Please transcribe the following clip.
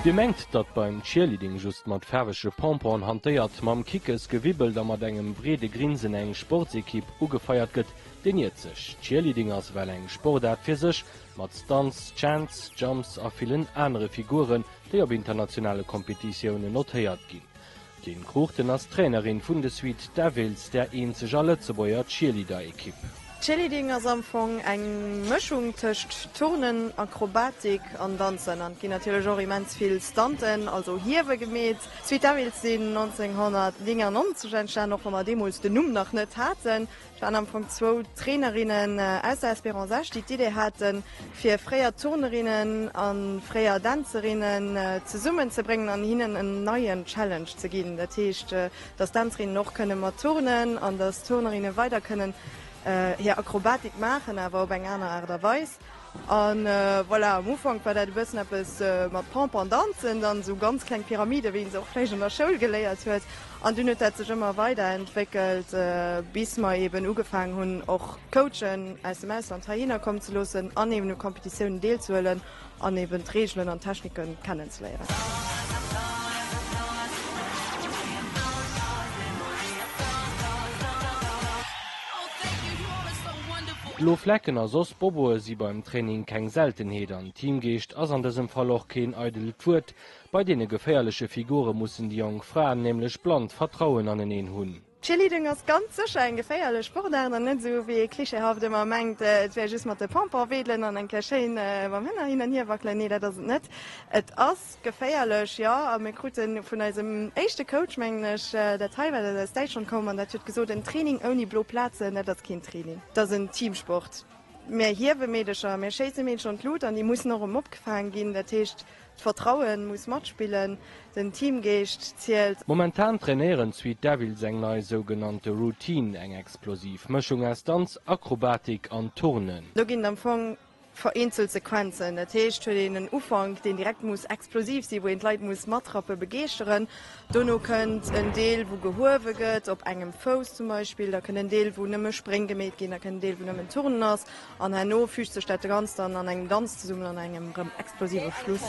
Dir mengt, datt beim Cheerleading just mat faarwege Pompon hantéiert, mam Kickes gewibbelt a mat engem breede Grinsen eng Sportsekipp ugefeiert gëtt? Deen iert sech. Cheerleading ass well eng Sportaart fir sech, mat Stunts, Chants, Jumps a villen anere Figuren, déi op internationale Kompetitiounen notéiert ginn. D'Lynn Cruchten ass d'Trainerin vun de Sweet Devils, der eenzeger Lëtzebuerger Cheerleader-Ekipp. Cheerleading ass am Fong eng Mëschung tëscht Turnen, Akrobatik an Danzen an et ginn natierlech och immens vill Stunten, also Hiewe, gemeet. D'Sweet Devils sinn 1999 entstan, och wa mer deemools den Numm nach net haten. Et waren am Fong zwou Trainerinnen aus der Espérance Esch, déi d'Idee haten, fir fréier Turnerinnen a fréier Dänzerinnen zesummenzebréngen an hinnen en neien Challenge ze ginn. Dat heescht, dass d'Dänzerinnen och kënne mat turnen an dass d'Turnerinnen weider kënnen hir Akrobatik maachen, awer op eng aner Aart a Weis. A voilà, am Ufank war dat e bëssen eppes mat Pomp an Danzen, dann esou ganz kleng Pyramiden, wéi een se och vläicht an der Schoul geléiert huet. An dunn huet dat sech ëmmer weiderentwéckelt, bis mer eeben ugefaangen hunn, och Coachen aus dem Ausland heihinner kommen ze loossen an eeben u Competitiounen deelzehuelen an eeben d'Reegelen an d'Technike kennenzeléieren. Blo Flecken a soss Boboe si beim Training keng Seltenheet an Teamgeescht ass an dësem Fall och keen eidelt Wuert. Bei deene geféierleche Figure mussen déi jonk Fraen nämlech blannt Vertrauen aneneen hunn. Cheerleading ass ganz sécher eng geféierlech Sportaart an net esou wéi ee klischeehaft ëmmer mengt, et wär just mat de Pompon wedelen an eng Kéier schéin mam Hënner hin an hier wackelen. Nee, dat ass et net. Et ass. Geféierlech, jo. A mir kruten vun eisem éischte Coach, mengen ech, dat hei war, dat aus Däitschland koum an dat huet gesot, en Training ouni blo Plazen, dat ass keen Training, dat ass en Teamsport. Mir hiewe Meedercher, mir schéisse Meedercher an d'Lut an déi mussen och erëm opgefaang ginn. Dat heescht, d'Vertraue muss matspillen, den Teamgeescht zielt. Momentan trainéieren d'Sweet Devils eng nei sougenannte Routine, eng explosiv Mëschung aus Danz, Akrobatik an Turnen. Do ginn am Fong Vereenzelt Sequenzen, dat heescht huet een en Ufank, deen direkt muss explosiv sinn, wou een d'Leit muss matrappen, begeeschteren. Dono kënnt en Deel, wou gehuewe gëtt, op engem Fouss zum Beispill, da kënnt en Deel, wou nëmme Spréng gemeet ginn, da kënnt en Deel, wou nëmmen Turnen ass, an herno füügt sech dat Ganzt dann an engem Danz zesummen, an engem rëm explosive Schluss.